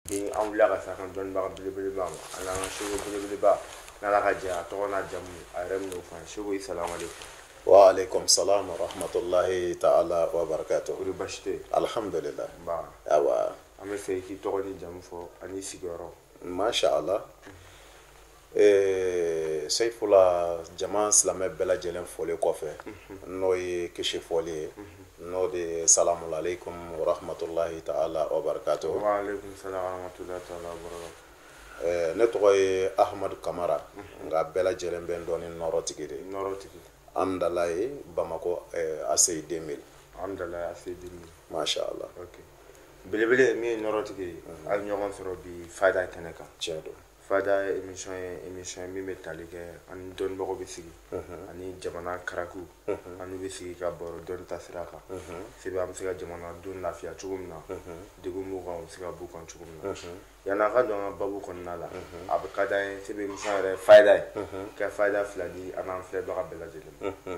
Ni an wulila ka s'an ka dɔnnibaga belebeleba ma a n'an ka sɛku belebeleba n'ala ka jɛ a tɔgɔ n'a jamu a yɛrɛ bɛn'o fɔ an ye sɛku i salamu aleykum wa aleykum salam wa rahmatulahi taala wa barakatu kori basi tɛ alhamdulillah nba awa an b'a fɛ i k'i tɔgɔ n'i jamu fɔ ani sigiyɔrɔ masha allah Ee seyifula jama silamɛ bɛɛ lajɛlen fɔlen kɔfɛ n'o ye kisi fɔli ye n'o de ye samu ale kohammatulayi ta la o barikato ne tɔgɔ ye ahadu kamara nka bɛɛ lajɛlen bɛ dɔn niɔrɔtigi de yeɔrɔtigi amidala ye bamakɔ a seyi den masha la belebele min yeɔrɔtigi ye a ɲɔgɔn sɔrɔ bi fa da kɛnɛ ka cɛ don fayida émission ye émission ye min bɛ tali kɛ an ni dɔnnibagaw bɛ sigi ani jamana karaku an n'u bɛ sigi ka baro dɔnni tasira kan sebe an bɛ se ka jamana don lafiya cogo min na degun b'u kan u bɛ se ka b'u kan cogo min na yanni an ka don an ka babu kɔnɔna la a bɛ ka d'an ye sebe émission yɛrɛ fayida ye ka fayida fila di an n'an filɛbaga bɛɛ lajɛlen ma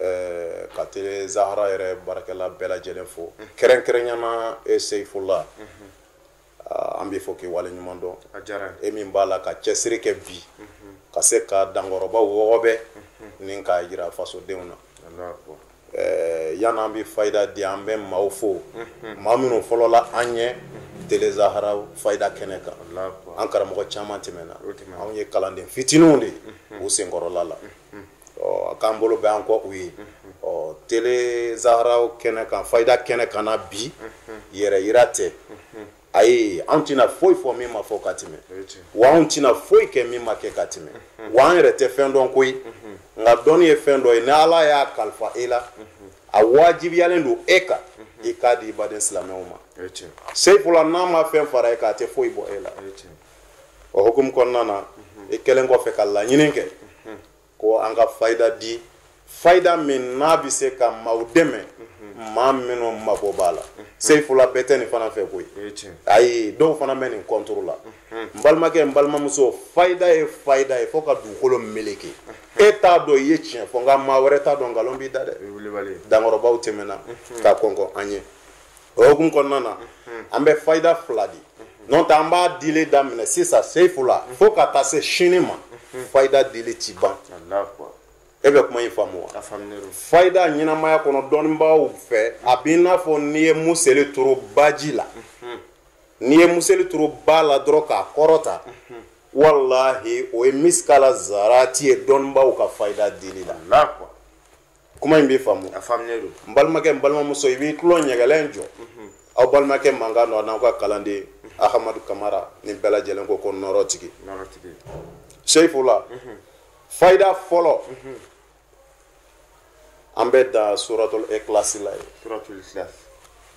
eh, ka tele zahara yɛrɛ baarakɛla bɛɛ lajɛlen fo mhm. kɛrɛnkɛrɛnyana e eh, seyifula mhm. ah, an b'i fo k'i waleɲumandɔn e min b'a la ka cɛsiri kɛ bi ka se ka dankɔrɔba wɔgɔbɛ ni k'a yira fasodenw na eh, yann'an bɛ fayida di an bɛ maaw fo maa minnu fɔlɔla an ɲɛ telezahara fayida kɛnɛ kan an karamɔgɔ caman tɛmɛna anw ye kalanden fitininw de ye u senkɔrɔla la ɔ k'an bolo bɛ an kɔ u ye ɔ tele zahara kɛnɛ kan fayida kɛnɛ kan na bi yɛrɛyira tɛ ayi anw tɛna foyi fɔ min ma fɔ ka tɛmɛ wa anw tɛna foyi kɛ min ma kɛ ka tɛmɛ wa an yɛrɛ tɛ fɛn dɔn koyi nka dɔnni ye fɛn dɔ ye ni ala y'a kalifa e la a wajibiyalen don e kan i k'a di i baden silamɛw ma seyifula n'a ma fɛn fara e kan a tɛ foyi bɔ e la o hukumu kɔnɔna na i kɛlen kɔfɛ ka laɲini kɛ ko an ka fayida di fayida min n'a bɛ se ka maaw dɛmɛ maa minnu mako b'a la seyifula bɛɛ tɛ nin fana fɛ koyi ayi dɔw fana bɛ nin kɔntoro la n balimakɛ n balimamuso fayida ye fayida ye fo ka dugukolo meleke e t'a dɔn i ye tiɲɛ fɔ nka maa wɛrɛ t'a dɔn nkalon b'i da dɛ dankɔrɔbaw tɛmɛna ka kɔnkɔn an ye o hukumu kɔnɔna na an bɛ fayida fila di n'o tɛ an b'a dili daminɛ sisan seyifula fo ka taa se sini ma fayida dili ti ban e bɛ kuma in faamu wa fayida ɲɛnamaya kɔnɔ dɔnnibaaw fɛ a b'i n'a fɔ n'i ye museli turu baji la n'i ye museli turu ba la dɔrɔn k'a kɔrɔta walahi o ye misikala zarati ye dɔnnibaaw ka fayida dili la kuma in bɛ faamu a faamuya don n balimakɛ n balimamuso i b'i tulo ɲɛgɛlɛn jɔ mhm. aw balimakɛ mankan nɔ n'aw ka kalanden mhm. ahamadu kamara ni bɛɛ lajɛlen ko ko nɔrɔ tigi seyifula mhm. fayida fɔlɔ an bɛ da suratul ikilasi la ye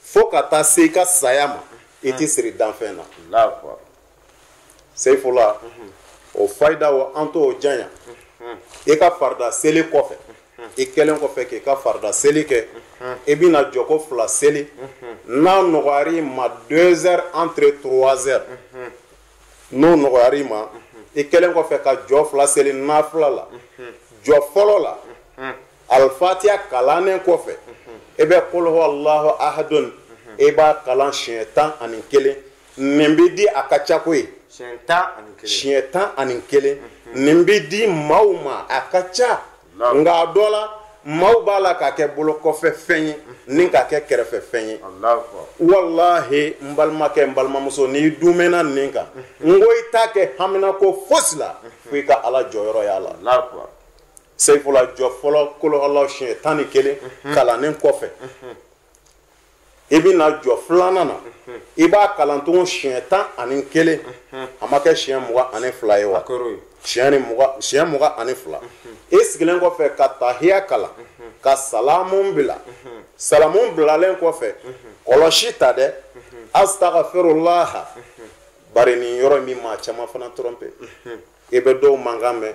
fo ka taa se i ka saya ma i tɛ siri danfɛn na seyifula o fayida o an t'o janya i ka farida seli kɔfɛ i kɛlen kɔfɛ k'i ka farida seli kɛ i bɛna jɔko fila seli n'a nɔgɔyar'i ma deux heures entre trois heures n'o nɔgɔyar'i ma i kɛlen kɔfɛ ka jɔ fila seli nafila la jɔ fɔlɔ la alifatiya kalannen kɔfɛ i bɛ kul huwa alahu ahadun i b'a kalan siɲɛ tan ani kelen nin bɛ di a ka ca koyi siɲɛ tan ani kelen nin bɛ di maaw ma a ka ca nka a dɔ la maaw b'a la k'a kɛ bolo kɔfɛ fɛn ye ni k'a kɛ kɛrɛfɛ fɛn ye walahi n balimakɛ n balimamuso n'i dumɛna nin kan n ko i t'a kɛ hamina ko fosi la fo i ka ala jɔyɔrɔ y'a la seyifula jɔ fɔlɔ kul huwa alahu siɲɛ tan ni kelen mhm. kalannen kɔfɛ mhm. i bɛna jɔ filanan na mhm. i b'a kalan tugun siɲɛ tan ani kelen a ma kɛ siɲɛ mugan ani fila ye wa siɲɛ ni mugan siɲɛ mugan ani fila i sigilen kɔfɛ ka tahiya kalan ka salamu bila salamu bilalen kɔfɛ kɔlɔsi ta dɛ asitagafirulaha bari nin yɔrɔ in bɛ maa caman fana trompé i bɛ dɔw mankan mɛn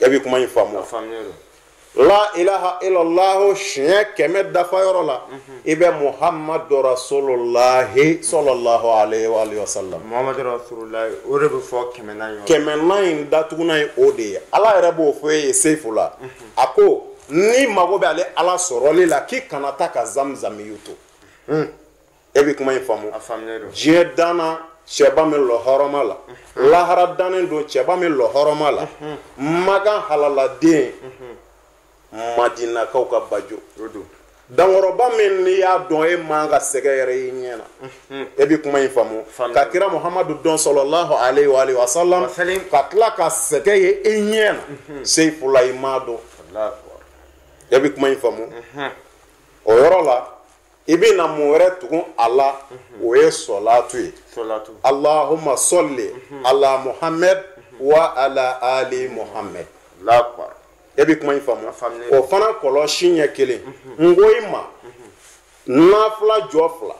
e bɛ kuma in faamu la ilaha illallah siɲɛ kɛmɛ dafa yɔrɔ la mhm. i bɛ muhammadu rasululahi sallallahu alaihi wa alihi wa sallam muhammadu rasululahi o de bɛ fɔ kɛmɛnan yɔrɔ kɛmɛnan in datugunan ye o de ye ala yɛrɛ b'o fɔ e ye seyifula mhm. a ko n'i mago bɛ ale ala sɔrɔli la k'i kana taa ka zamzamiyu to. Mhm. e bɛ kuma in faamu diɲɛ danna cɛba min lɔ hɔrɔma la lahara dannen don cɛba min lɔ hɔrɔma la makan halaladen madinakaw ka bajo dankɔrɔba min n'i y'a dɔn e man ka sɛgɛn yɛrɛ i ɲɛ na e bɛ kuma in faamu ka kira muhamadu dɔn sɔlɔlahu alayhi wa alihi wa sallam ka tila ka sɛgɛn ye i ɲɛ na seyifula i m'a dɔn e bɛ kuma in faamu o yɔrɔ la i bɛna mun wɛrɛ tugu a la mhm. o ye sɔlaatu ye alahuma sɔli mhm. ala muhammed mhm. wa ala ali muhammed e bɛ kuma in faamu o fana kɔlɔsi ɲɛ kelen n ko i ma nafila jɔ fila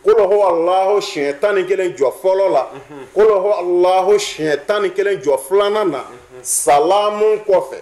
kul huwa alahu siɲɛ tan ni kelen jɔ fɔlɔ la kul huwa alahu siɲɛ tan ni kelen jɔ filanan na salamu kɔfɛ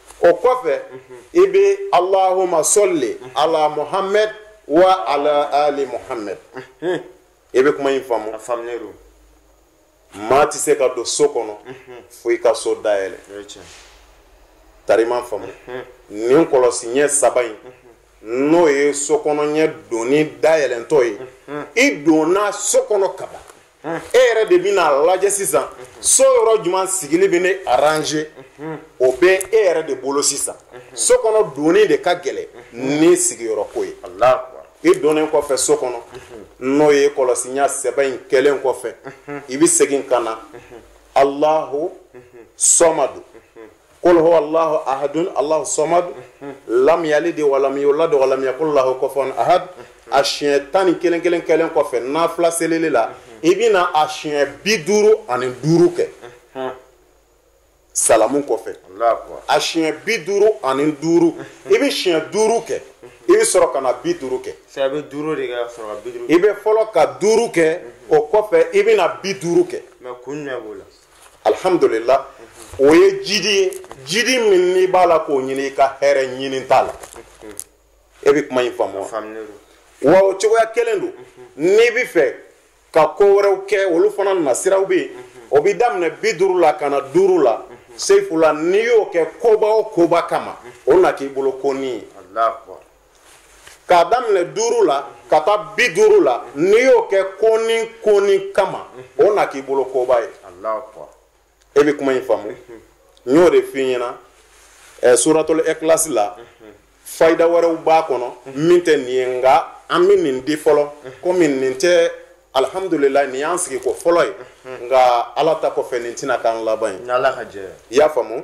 o kɔfɛ i bɛ allahumma salli ala muhammad wa ala ali muhammad i bɛ kuma in faamu maa tɛ se ka don so kɔnɔ fo i ka so dayɛlɛ tarima faamu nin kɔlɔsi ɲɛ saba in n'o ye so kɔnɔ ɲɛ donni dayɛlɛntɔ ye i donna so kɔnɔ kaban e yɛrɛ de bɛna lajɛ sisan so yɔrɔ jumɛn sigili bɛ ne arranger o bɛ e yɛrɛ de bolo sisan so kɔnɔ donni de ka gɛlɛn ni sigiyɔrɔ ko ye i donnen kɔfɛ so kɔnɔ n'o ye kɔlɔsi ɲɛ saba in kɛlen kɔfɛ i bɛ segin ka na allahu samadu kul huwa allahu ahadun allahu samad lam yalid walam yulad walam yakul lahu kufuwan ahad a siɲɛ tan ni kelen kelen kɛlen kɔfɛ nafila selili la i bɛna a siɲɛ bi duuru ani duuru kɛ salamu kɔfɛ a siɲɛ bi duuru ani duuru i bɛ siɲɛ duuru kɛ i bɛ sɔrɔ ka na bi duuru kɛ i bɛ fɔlɔ ka duuru kɛ o kɔfɛ i bɛ na bi duuru kɛ alhamdulillah o ye jidi ye jidi min n'i b'a la k'o ɲini i ka hɛrɛ ɲini t'a la e bɛ kuma in faamu wa wa o cogoya kelen don n'i bɛ fɛ ka ko wɛrɛw kɛ olu fana nasiraw bɛ yen o bɛ daminɛ bi duuru la ka na duuru la seyifula n'i y'o kɛ koba o koba kama o na k'i bolo konin ye k'a daminɛ duuru la ka taa bi duuru la n'i y'o kɛ konin konin kama o na k'i bolo koba ye e bɛ kuma in faamu n y'o de f'i ɲɛna ɛ suratul ikhlas la fayida wɛrɛw b'a kɔnɔ min tɛ nin ye nka an bɛ nin di fɔlɔ komi nin tɛ alhamdulillah nin y'an sigi ko fɔlɔ ye nka ala ta kɔfɛ nin tɛna k'an laban ye i y'a faamu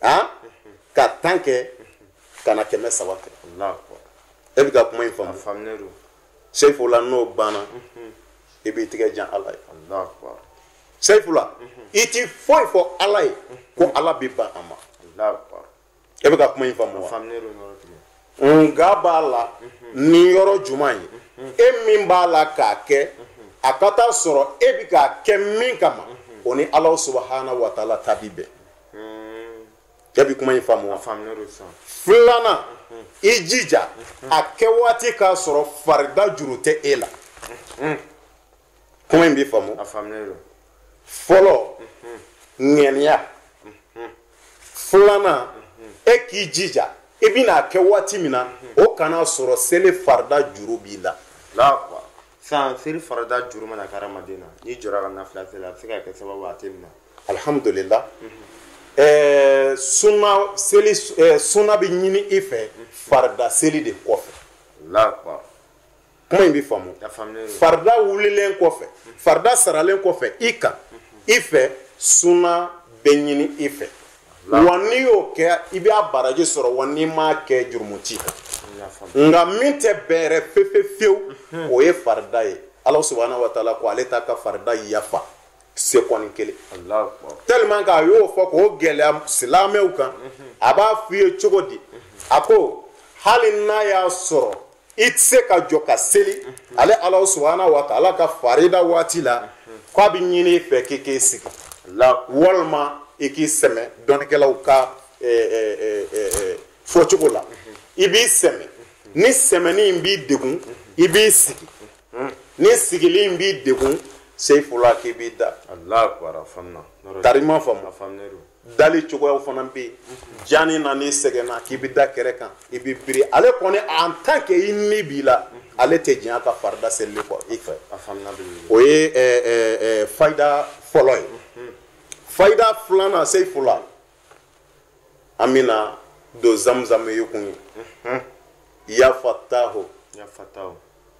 han ka tan kɛ ka na kɛmɛ saba kɛ e bɛ ka kuma in faamu seyifula n'o banna i b'i tigɛ jan ala ye seyifula i ti foyi fɔ ala ye ko ala bɛ ban a ma e bɛ ka kuma in faamu wa nka b'a la ni yɔrɔ jumɛn ye e min b'a la k'a kɛ a ka taa sɔrɔ e bɛ k'a kɛ min kama o ni ala subahana wa taala ta bɛ bɛn e bɛ kuma in faamu wa filanan i jija a kɛ waati k'a sɔrɔ farida juru tɛ e la kuma in b'i faamu fɔlɔ ŋɛniya filanan e k'i jija i bɛna a kɛ waati min na o kana sɔrɔ seli farida juru b'i la san seli farida juru mana kɛ hadamaden na n'i jɔra ka nafila seli a bɛ se ka kɛ sababu a tɛ minɛ alihamudulila ɛɛ suna seli ɛɛ suna bɛ ɲini i fɛ farida seli de kɔfɛ. lakwa. kuma in bɛ faamu. farida wulilen kɔfɛ farida saralen kɔfɛ i kan i fɛ suna bɛ ɲini i fɛ. wa n'i y'o kɛ i bɛ a baraji sɔrɔ wa n'i m'a kɛ jurumu t'i kan. nka min tɛ bɛrɛ fewu fewu o ye farida ye ala subahana wa taala ko ale t'a ka farida yafa. seconde kelen tellement k'a y'o fɔ k'o gɛlɛya silamɛw kan a b'a f'i ye cogo di a ko hali n'a y'a sɔrɔ i tɛ se ka jɔ ka seli ale ala subahana wa taala ka farida waati la ko a bɛ ɲini i fɛ k'i k'i sigi walima i k'i sɛmɛ dɔnnikɛlaw ka fɔcogo la i b'i sɛmɛ ni sɛmɛni in b'i degun i b'i sigi hmm. ni sigili in b'i degun seyifula k'i b'i da tari ma faamu dali cogoyaw fana bɛ yen janni na n'i sɛgɛnna k'i bɛ da kɛrɛ kan i bɛ biri ale kɔni en tant que i ni b'i la ale tɛ diɲɛ ka farida selili kɔ i fɛ o ye eh, eh, eh, fayida fɔlɔ ye hmm. fayida filanan seyifula an bɛna don zamzam ye kun ye ya fatahu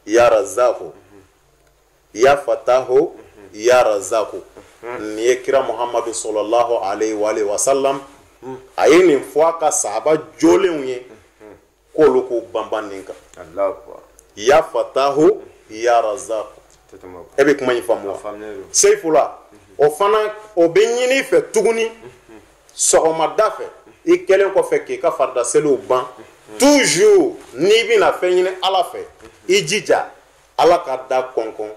ya razaku ya fatahu ya razaku nin ye kira muhamadu sɔlɔlahu alayhi wa salam a ye nin fɔ a ka sahaba jolenw ye k'olu k'u banban nin kan ya fatahu ya razaku e bɛ kuma in faamu wa seyifula o fana o bɛ ɲini i fɛ tuguni sɔgɔmada fɛ i kɛlen kɔfɛ k'i ka farida seliw ban toujours n'i bɛna fɛn ɲini ala fɛ i jija ala ka da kɔnkɔn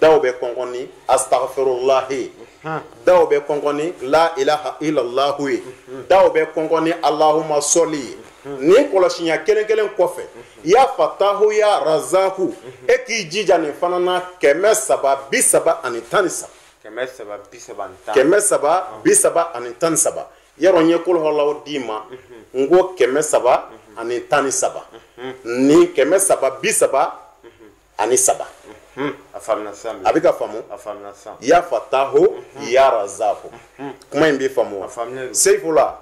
daw bɛ kɔnkɔn ni astagfirulahi ye daw bɛ kɔnkɔn ni la ilaha illallahu ye daw bɛ kɔnkɔn ni alahuma sɔli ye nin kɔlɔsi ɲɛ kelen kelen kɔfɛ ya fatahu ya razaku e k'i jija nin fana na kɛmɛ saba bi saba ani tan ni saba kɛmɛ saba bi saba ni tan kɛmɛ saba bi saba ani tan ni saba yɔrɔ n ye kuluhuwalahu d'i ma n ko kɛmɛ saba ani tan ni saba nin kɛmɛ saba bi saba ani saba a faamuna sisan a bɛ ka faamu a faamuna sisan ya fatahu ya razaku kuma in bɛ faamu wa seyifula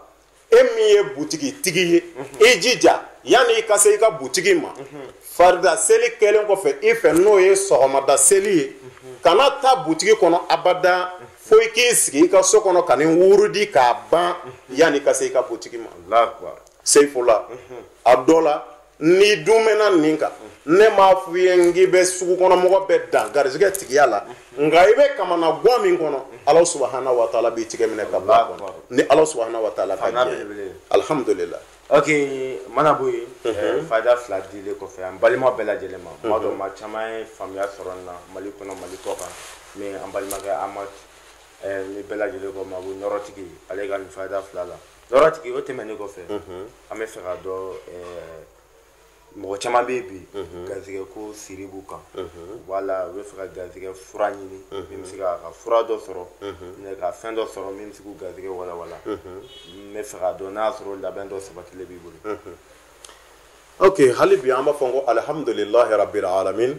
e min ye butigi tigi ye i jija yanni i ka se i ka butigi ma farida seli kɛlen kɔfɛ i fɛ n'o ye sɔgɔmada seli ye kana taa butigi kɔnɔ abada fo i k'i sigi i ka so kɔnɔ ka nin wurudi k'a ban yanni i ka se i ka butigi ma seyifula a dɔ la n'i dun mɛnna nin kan ne m'a f'i ye n k'i bɛ sugu kɔnɔ mɔgɔ bɛɛ dan garisigɛ tigiya la nka i bɛ kamanagwan min kɔnɔ ala subahana wa taala b'i tigɛ minɛ ka bɔ a kɔnɔ ni ala subahana wa taala ka diɲɛ ye. alihamudulila ok mana bɔ yen eh, fayida fila dilen kɔfɛ an balima bɛɛ lajɛlen ma tuma dɔ maa caman ye faamuya sɔrɔ nin na mali kɔnɔ mali kɔ kan mais an balimakɛ amadu eh, ni bɛɛ lajɛlen ko ma ko nɔrɔtigi ale ka nin fayida fila la nɔrɔtigi o tɛmɛnen kɔfɛ an bɛ fɛ ka dɔn mɔgɔ caman bɛ yen bi garisɛgɛ ko siri b'u kan wala u bɛ fɛ ka garisɛgɛ fura ɲini min bɛ se ka ka fura dɔ sɔrɔ ka fɛn dɔ sɔrɔ min bɛ se k'u garisɛgɛ walawala n bɛ fɛ ka dɔn n'a y'a sɔrɔ labɛn dɔ sabatilen b'i bolo oke hali bi an b'a fɔ ko alihamdulilahi rabil alamin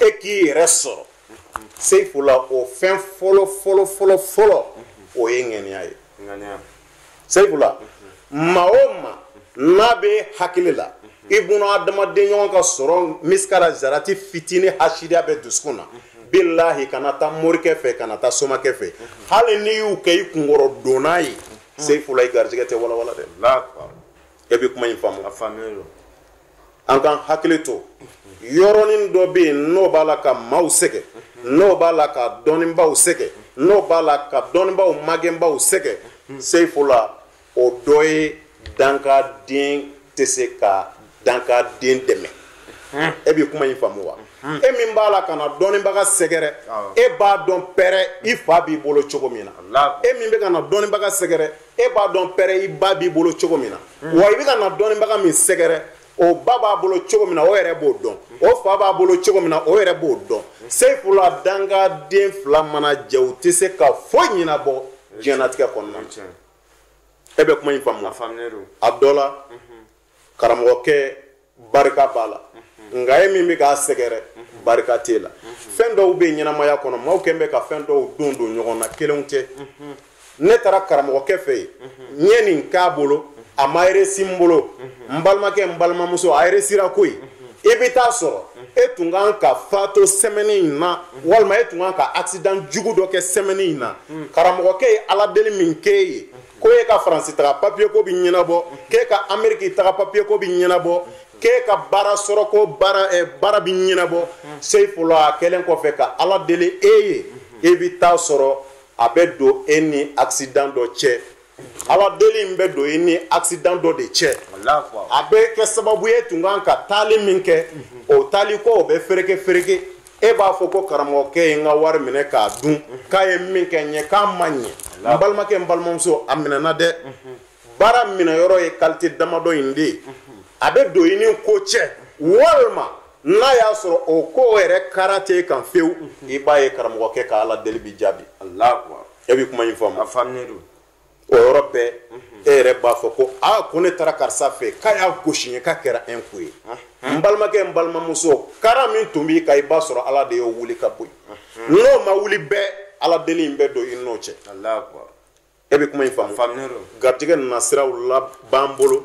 e k'i yɛrɛ sɔrɔ seyifula o fɛn fɔlɔ fɔlɔ fɔlɔ fɔlɔ o ye ŋaniya ye seyifula maa o maa n'a b'i hakili la i buna adamaden ɲɔgɔn ka sɔrɔ misikala zarati fitinin hasidiya b'i dusukun na bilahi kana taa morikɛ fɛ kana taa somakɛ fɛ hali n'i y'u kɛ i kunkɔrɔ donna ye seyifula i garijɛgɛ tɛ walawala dɛ e bɛ kuma in faamu an k'an hakili to yɔrɔnin dɔ bɛ yen n'o b'a la ka maaw sɛgɛn n'o b'a la ka dɔnnibaaw sɛgɛn n'o b'a la ka dɔnnibaaw magɛnbaaw sɛgɛn seyifula o dɔ ye dankaden tɛ se ka dankaden dɛmɛ e bɛ kuma in faamu wa e min b'a la ka na dɔnnibaga sɛgɛrɛ e b'a dɔn pɛrɛ i fa b'i bolo cogo min na e min bɛ ka na dɔnnibaga sɛgɛrɛ e b'a dɔn pɛrɛ i ba b'i bolo cogo min na wa i bɛ ka na dɔnnibaga min sɛgɛrɛ o ba b'a bolo cogo min na o yɛrɛ b'o dɔn o fa b'a bolo cogo min na o yɛrɛ b'o dɔn seyifula dankaden fila mana jɛ u tɛ se ka foyi ɲɛnabɔ diɲɛnatigɛ kɔnɔna na e bɛ kuma in faamu a dɔ la karamɔgɔkɛ barika b'a la nka e min bɛ k'a sɛgɛrɛ barika t'e la fɛn dɔw bɛ ɲɛnamaya kɔnɔ maaw kɛn bɛ ka fɛn dɔw don don ɲɔgɔn na kelenw tɛ ne taara karamɔgɔkɛ fɛ yen n ye nin k'a bolo a ma eresi n bolo n balimakɛ n balimamuso a eresira koyi i bɛ taa sɔrɔ e tun kan ka fato sɛmɛni in na walima e tun kan ka accident jugu dɔ kɛ sɛmɛni in na karamɔgɔkɛ ye ala deli min k'e ye ko e ka faransi taga papiye ko bi ɲɛnabɔ k'e ka ameriki taga papiye ko bi ɲɛnabɔ k'e ka baara sɔrɔ ko baara eh, baara bi ɲɛnabɔ seyifula a kɛlen kɔfɛ ka ala deli e ye e bi taa sɔrɔ a bɛ don e ni accident dɔ cɛ ala deli in bɛ don e ni accident dɔ de cɛ a bɛ kɛ sababu e tun kan ka taali min kɛ o taali ko o bɛ fereke fereke e b'a fɔ ko karamɔgɔkɛ ye n ka wari minɛ k'a dun k'a ye min kɛ n ye k'a ma ɲɛ n balimakɛ n balimamuso a minɛna dɛ baara minɛyɔrɔ ye kalite damadɔ in de ye a bɛ don i ni ko cɛ walima n'a y'a sɔrɔ o ko yɛrɛ kara t'e kan fewu i b'a ye karamɔgɔkɛ ka ala deli bi jaabi e bɛ kuma in faamu o yɔrɔ bɛɛ e yɛrɛ b'a fɔ ko a ko ne taara karisa fɛ k'a y'a gosi n ye k'a kɛra un coup ye n balimakɛ n balimamuso kara min tun b'i kan i b'a sɔrɔ ala de y'o wuli ka bɔ yen n'o ma wuli bɛɛ ala deli in bɛ don i n'o cɛ e bɛ kuma in faamu garijɛgɛ nasiraw la b'an bolo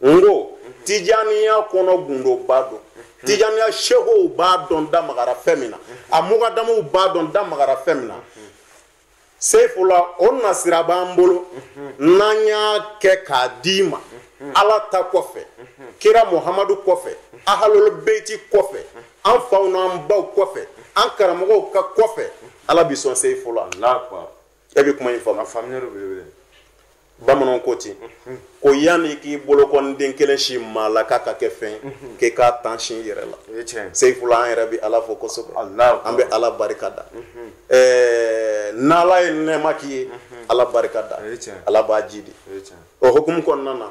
n ko tijaniya kɔnɔ gundoba don tijaniya sekow b'a dɔn da magara fɛn min na a mugadamuw b'a dɔn da magara fɛn min na seyifula o nasira b'an bolo n'an y'a kɛ k'a d'i ma ala ta kɔfɛ kira muhamadu kɔfɛ ahalul beiti kɔfɛ an faw n'an baw kɔfɛ an karamɔgɔw ka kɔfɛ ala bi sɔn seyifula e bɛ kuma in faamu. a faamuyali belebele. bamananw ko ten ko yanni i k'i bolokɔniden kelen sin maa la k'a ka kɛ fɛn k'i k'a tan sin i yɛrɛ la seyifula an yɛrɛ bɛ ala fo kosɛbɛ an bɛ ala barika da ɛɛ n'ala ye nɛɛma k'i ye ala barika da ala b'a jiidi o hukumu kɔnɔna na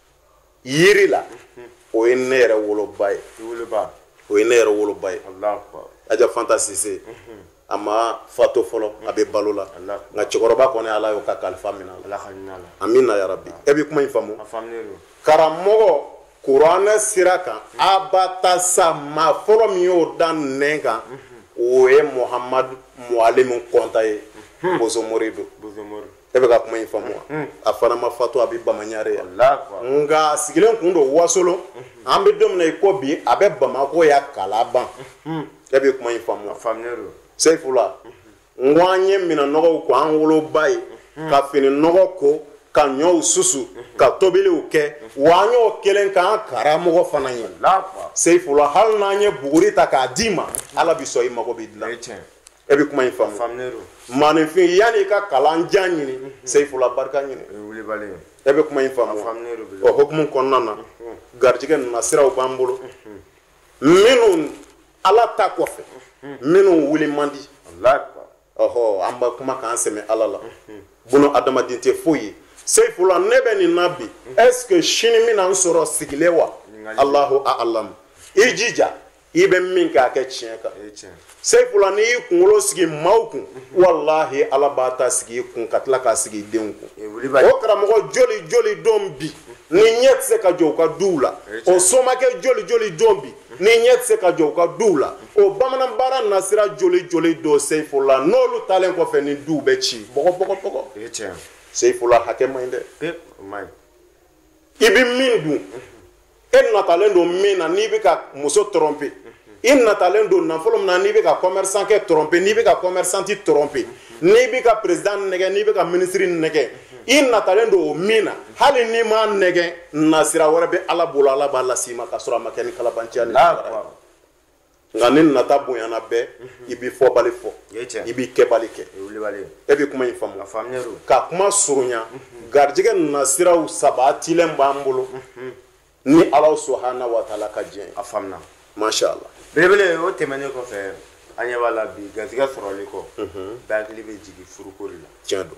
yiri la o ye ne yɛrɛ woloba ye o ye ne yɛrɛ woloba ye aja fanta sise a ma fatu fɔlɔ a bɛ balo la nka cɛkɔrɔba kɔni ala y'o ka kalifa minɛ a la amina yarabi e bɛ kuma in faamu karamɔgɔ kuranɛ sira kan a ba ta sa maa fɔlɔ min y'o da nɛn kan o ye muhamadu mualimu kɔnta ye bozomori don e bɛ ka kuma in faamu wa mm-hmm. a fana ma fatu a bɛ bamaɲare yan nka sigilen kun don wasolo mm-hmm. an bɛ don min na i ko bi a bɛ bamako yan kalaban mm-hmm. e bɛ kuma in faamu wa seyifula n ko an ye minɛn nɔgɔw ko an woloba ye ka fini nɔgɔ ko ka ɲɔw susu ka tobiliw kɛ wa an y'o kelen k'an karamɔgɔ fana ye seyifula hali n'an ye buguri ta k'a d'i ma ala bɛ sɔn i mago bɛ dilan e bɛ kuma in faamu faamulen don maaninfin yanni i ka kalan jan ɲini mhm. seyifula barika ɲini o ye wilibali ye e bɛ kuma in faamu faamulen don bi o hukumu kɔnɔna na mhm. garijɛgɛ nasiraw b'an bolo mhm. minnu ala ta kɔfɛ minnu wuli man di ɔhɔ an bɛ kuma k'an sɛmɛ ala la bunadamaden tɛ foyi ye seyifula ne bɛ nin na bi est ce que sini bɛna n sɔrɔ sigilen wa alahu a'alamu i jija i bɛ min kɛ a kɛ tiɲɛ kan seyifula n'i y'i kunkolo sigi maaw kun walahi ala b'a ta sigi i kun ka tila k'a sigi i denw kun o karamɔgɔ joli joli don bi ni ɲɛ tɛ se ka jɔ u ka duw la o somakɛ joli joli don bi ni ɲɛ tɛ se ka jɔ u ka duw la o bamanan baara nasira joli joli don seyifula n'olu taalen kɔfɛ ni duw bɛ ci bɔgɔbɔgɔbɔgɔ seyifula hakɛ man ɲi dɛ i bɛ min dun e natalen don min na n'i bɛ ka muso tromper i natalen don nafolo min na n'i bɛ ka commerçant kɛ tromper n'i bɛ ka commerçante tromper n'i bɛ ka président nɛgɛ n'i bɛ ka ministre nɛgɛ i natalen don o min na hali n'i m'a nɛgɛ nasira wɛrɛ bɛ ala bolo ala b'a las'i ma k'a sɔrɔ a ma kɛ ni kalabanciya ni nka ni nata bonyana bɛɛ i bɛ fɔbali fɔ i bɛ kɛbali kɛ e bɛ kuma in faamu ka kuma surunya garijɛgɛ nasiraw sabatilen b'an bolo ni ala subahana wataala ka diɲɛ a faamuna masha ala belebele o tɛmɛnen kɔfɛ an ɲɛ b'a la bi garijɛgɛ sɔrɔli ko bɛɛ hakili bɛ jigin furuko la tiɲɛ don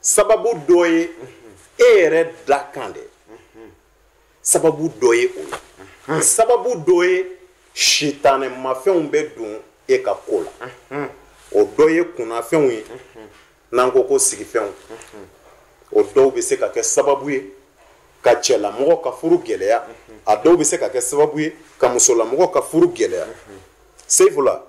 sababu dɔ ye e yɛrɛ dakan de sababu dɔ ye o ye sababu dɔ ye sitanɛmafɛnw bɛ don e ka ko la o dɔ ye kunnafɛnw ye n'an ko ko sigifɛnw o dɔw bɛ se ka kɛ sababu ye ka cɛlamɔgɔ ka furu gɛlɛya a dɔw bɛ se ka kɛ sababu ye ka musolamɔgɔ ka furu gɛlɛya seyifula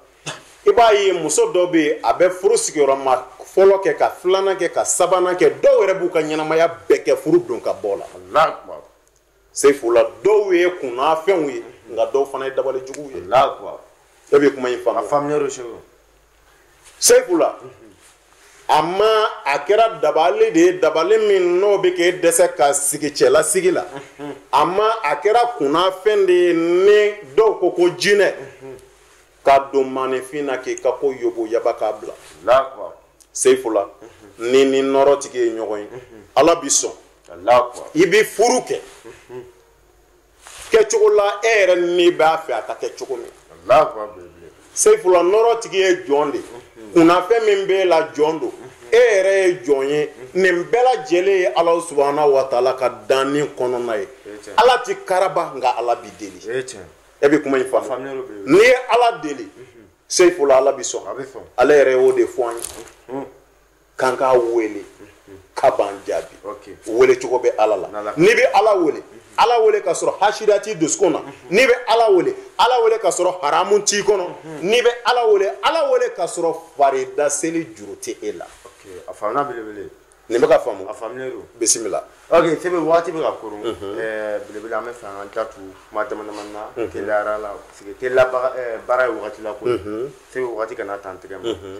i b'a ye muso dɔ bɛ yen a bɛ furu sigiyɔrɔma fɔlɔ kɛ ka filanan kɛ ka sabanan kɛ dɔw yɛrɛ b'u ka ɲɛnamaya bɛɛ kɛ furu don ka bɔ la seyifula dɔw ye kunnafɛnw ye nka dɔw fana ye dabali juguw ye e bɛ kuma in faamu seyifula ama a kɛra dabali de ye dabali min n'o bɛ k'e dɛsɛ ka sigi cɛlasigi la ama a kɛra kunnafɛn de ye ni dɔw ko ko jinɛ ka don maaninfin na k'i ka ko yoboyaba k'a bila seyifula n'i ni nɔrɔtigi ye ɲɔgɔn ye ala b'i sɔn i bɛ furu kɛ kɛcogo la e yɛrɛ ni b'a fɛ a ka kɛ cogo min seyifula nɔrɔtigi ye jɔn de kunnafɛn min b'e la jɔn don e yɛrɛ ye jɔn ye nin bɛɛ lajɛlen ye ala subahana wataala ka danni kɔnɔna ye ala ti karaba nka ala bi deli e bɛ kuma in faamu n'i ye ala deli seyifula ala b'i sɔn ale yɛrɛ y'o de fɔ an ye k'an k'a wele ka b'an jaabi wele cogo bɛ ala la n'i bɛ ala wele ala wele ka sɔrɔ hasida t'i dusukun na n'i bɛ ala wele ala wele ka sɔrɔ haramu t'i kɔnɔ n'i bɛ ala wele ala wele ka sɔrɔ farida seli juru tɛ e la a faamuna belebele nin bɛ ka faamu a faamuyalen don bisimila ok sebe waati bɛ ka koron eh, belebele an bɛ fɛ an ka datu kuma dama dama na mhm. teliyara la parce que teliya baara ye wagati la ko sebe wagati kana tan tigɛ ma mhm.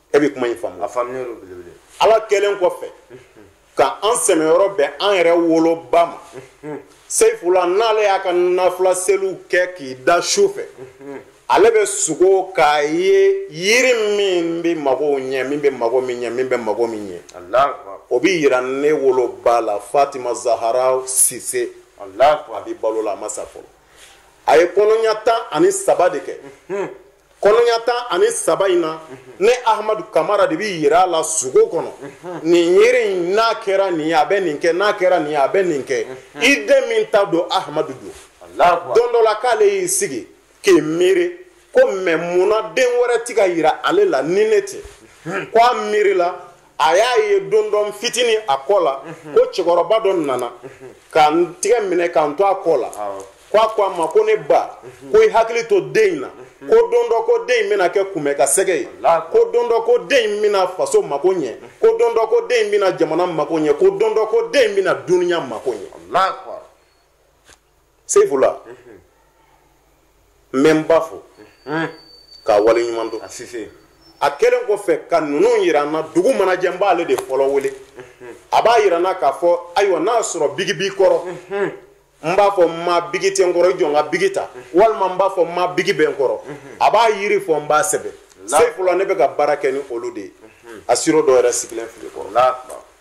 e bɛ kuma in faamu a faamuyalen don belebele ala kelen kɔfɛ ka an sɛmɛyɔrɔ bɛn an yɛrɛ woloba ma seyifula n'ale y'a ka nafila seliw kɛ k'i da su fɛ ale bɛ sugo k'a ye yiri min bɛ magow ɲɛ min bɛ mago min ɲɛ min bɛ mago min ɲɛ alahu akubar o bɛ yira ne woloba la fatima zahara sise alahu akubar a bɛ balo la a ma sa fɔlɔ a ye kɔnɔɲa tan ani saba de kɛ kɔnɔɲa tan ani saba in na ne ahamadu kamara de bɛ yira a la sugo kɔnɔ nin yiri in n'a kɛra nin ye a bɛ nin kɛ n'a kɛra nin ye a bɛ nin kɛ i den min ta don ahamadu don don dɔ la k'ale y'i sigi k'i miiri ko mɛ munna den wɛrɛ ti ka yira ale la ni ne tɛ ko a miirila a y'a ye don dɔ n fitinin a kɔ la mhm. ko cɛkɔrɔba dɔ nana mhm. ka n tigɛ minɛ ka n to a kɔ la ko a ko a ma ko ne ba mhm. ko i hakili to den in na ko don dɔ ko den in bɛna kɛ kunbɛ ka sɛgɛ ye ko don dɔ ko den in bɛna faso mako ɲɛ ko don dɔ ko den in bɛna jamana mako ɲɛ ko don dɔ ko den in bɛna duniya mako ɲɛ seyifula n bɛ n ba fo k'a waleɲuman dɔn ala kelen kɔfɛ ka ninnu yira n na dugu mana jɛ n b'ale de fɔlɔ wele a b'a yira n na k'a fɔ ayiwa n'a sɔrɔ bigi b'i kɔrɔ n b'a fɔ n ma bigi tɛ n kɔrɔ i jɔ n ka bigi ta walima n b'a fɔ n ma bigi bɛ n kɔrɔ a b'a yiri fɔ n b'a sɛbɛn seyifula ne bɛ ka baara kɛ ni olu de ye a siro dɔ yɛrɛ sigilen filɛ kɔrɔ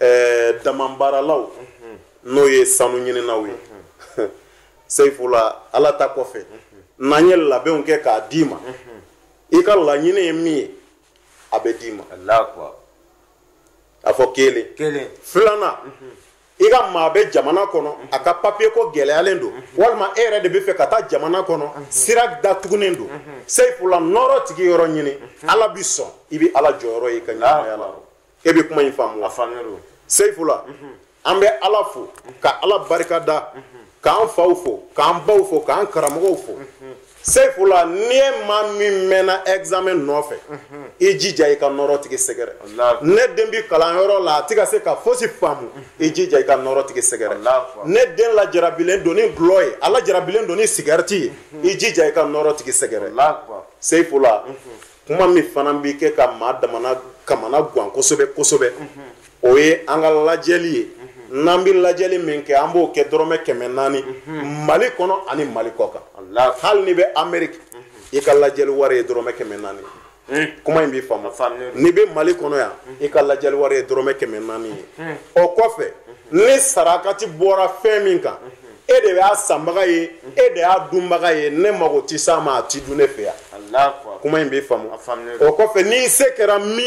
ɛɛ damanbaaralaw n'o ye sanu ɲininaw ye seyifula ala ta kɔfɛ n'an ye labɛnw kɛ k'a d'i ma i ka laɲini ye min ye a bɛ d'i ma a fɔ kelen filanan i ka maa bɛ jamana kɔnɔ a ka papiye ko gɛlɛyalen don walima e yɛrɛ de bɛ fɛ ka taa jamana kɔnɔ sira datugunen don seyifula nɔɔrɔ tigi yɔrɔ ɲini ala bi sɔn i bɛ ala jɔyɔrɔ ye i ka ɲɛnamaya la e bɛ kuma in faamu a faamuyalen don seyifula an bɛ ala fo ka ala barika da k'an faw fo k'an baw fo k'an karamɔgɔw fo seyifula n'i ye maa min mɛnna examen nɔfɛ i jija i ka nɔrɔ tigi sɛgɛrɛ ne den bi kalanyɔrɔ la a ti ka se ka fosi faamu i jija i ka nɔrɔ tigi sɛgɛrɛ ne den lajarabilen don ni dɔlɔ ye a lajarabilen don ni sigarɛti ye i jija i ka nɔrɔ tigi sɛgɛrɛ seyifula kuma min fana bɛ kɛ ka maa damana kamana gan kosɛbɛ kosɛbɛ o ye an ka lajɛli ye n'an bɛ lajɛli min kɛ an b'o kɛ dɔrɔmɛ kɛmɛ naani mali kɔnɔ ani mali kɔ kan hali n'i bɛ amérique i ka lajɛli wari ye dɔrɔmɛ kɛmɛ naani kuma in bɛ faamu n'i bɛ mali kɔnɔ yan i ka lajɛli wari ye dɔrɔmɛ kɛmɛ naani ye o kɔfɛ ni sarakati bɔra fɛn min kan e de y'a sanbaga ye e de y'a dunbaga ye ne mago tɛ s'a ma a ti dun ne fɛ yan kuma in bɛ faamu o kɔfɛ n'i se kɛra min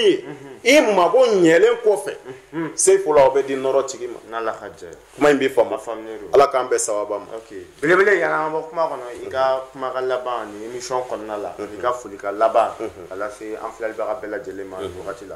ye i mago ɲɛlen kɔfɛ seyifula o bɛ di nɔrɔ tigi ma kuma in bɛ faamu ala k'an bɛɛ sababa ma belebele yann'an bɔ kuma kɔnɔ i ka kuma ka laban ni émission kɔnɔna la i ka foli ka laban k'a lase an filɛlibaga bɛɛ lajɛlen ma wagati la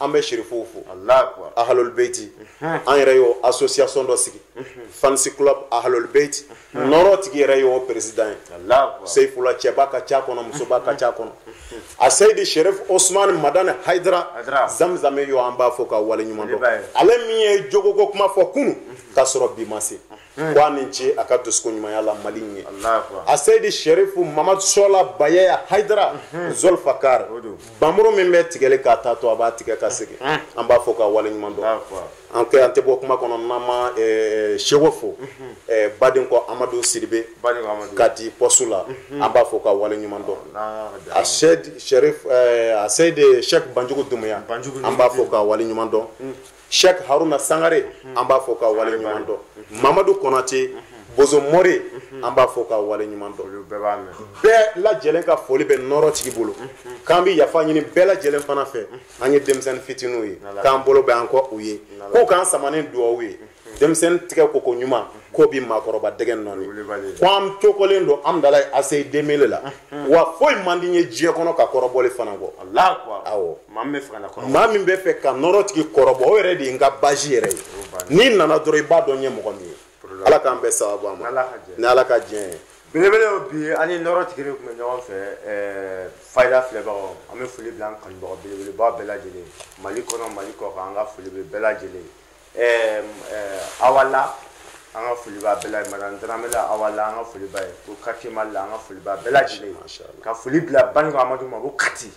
an bɛ sherifuw fo ahlul beiti an yɛrɛ y'o association dɔ sigi fans club ahlul beiti nɔrɔ tigi yɛrɛ y'o président ye seyifula cɛba ka ca kɔnɔ musoba ka ca kɔnɔ a seyidi sherif osman madani haidara zamzame y'o an b'a fo k'a wale ɲuman dɔn ale min ye jogoko kuma fɔ kunu ka sɔrɔ bi ma se hmm. ko a ni ce a ka dusukun ɲumanya la mali ye a seyidi sherifu mamadu suala bayaya haidara hmm. zolfakar bamuru min bɛ tigɛli k'a taatɔ a b'a tigɛ ka segin hmm. an b'a fo k'a wale ɲuman dɔn an kɛ an tɛ bɔ kuma kɔnɔ n'an ma eh, seko fo eh, baden ko amadu sidibe kati poste la an b'a fo k'a wale ɲuman dɔn a seyidi sherifu eh, a seyidi shek banjugu dumuya an b'a fo k'a wale ɲuman dɔn Cheikh Haruna Sangare an b'a fo k'a wale ɲuman dɔn Mamadu Konate Bozo Mori an b'a fo k'a wale ɲuman dɔn bɛɛ lajɛlen ka foli bɛ nɔrɔ tigi bolo k'an bɛ yafa ɲini bɛɛ lajɛlen fana fɛ an ye denmisɛnnin fitininw ye k'an bolo bɛ an kɔ u ye k'u k'an sama ni duwawu ye denmisɛnnin tigɛ koko ɲuman k'o bi maakɔrɔba dɛgɛ nɔɔni ko an cokɔlen don Hamdallaye ACI deux mille la wa foyi man di n ye diɲɛ kɔnɔ ka kɔrɔbɔli fana kɔ awɔ maa min bɛ fɛ ka nɔrɔ tigi kɔrɔbɔ o yɛrɛ de ye n ka bazi yɛrɛ ye n'i nana dɔrɔn i b'a dɔn n ye mɔgɔ min ye ala k'an bɛɛ sababu an ma ni ala ka diɲɛ ye belebele y'o bi an ni nɔrɔ tigi de tun bɛ ɲɔgɔn fɛ eh, fayida filɛbagaw an bɛ foli bila an kanubagaw belebeleba bɛɛ lajɛlen mali kɔnɔ mali kɔkan an ka foli bɛ bɛɛ lajɛlen eh, awa la an ka foli b'a bɛɛ la ye madame darame la awa la an ka foli b'a ye ko quartier mali la an ka foli b'a bɛɛ lajɛlen ye ka foli bila baniko amadu ma ko kati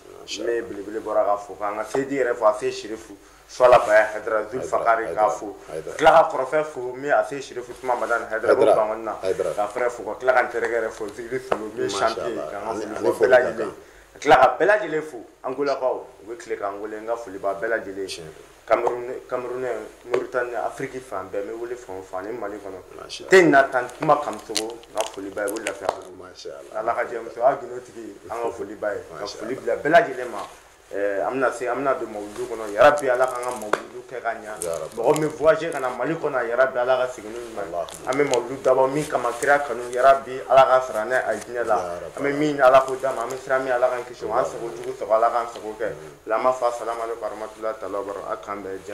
ne ye belebele bɔra k'a fo k'an ka seyidi yɛrɛ fo a se sherifu suala baya haidara zul fakari k'a fo ka tila k'a kɔrɔkɛ fo min a se sherifu usuman madani haidara ko bankoni na k'a frère fo ka tila ka n terikɛ yɛrɛ fo zikiri solo min ye champion ye k'an ka foli fo bɛɛ lajɛlen ka tila ka bɛɛ lajɛlen fo angolakaw u bɛ tile k'an wele n ka foli b'a bɛɛ lajɛlen kamerunɛ moritani afiriki fan bɛɛ n bɛ wele fan o fan ani mali kɔnɔ tɛ na tan kuma kamisogo n ka foli b'a ye o lafiya ala ka jɛ muso y'a gindo tigi an ka foli b'a ye ka foli bila bɛɛ lajɛlen ma eh, an bɛna se an bɛna don mawuludu kɔnɔ yarabi ala k'an ka mawuludu kɛ ka ɲa mɔgɔ min voyage ka na mali kɔnɔ yarabi ala ka segin n'u ɲuman an bɛ mawuludu dabɔ min kama kira kanu yarabi ala k'a sara n'a a ye diinɛ la an bɛ min ɲini ala k'o d'an ma an bɛ siran min ala ka An sago jugu sago ala ka sago kɛ lama fa sara mali faramatu ta bara a kan bɛɛ jɛ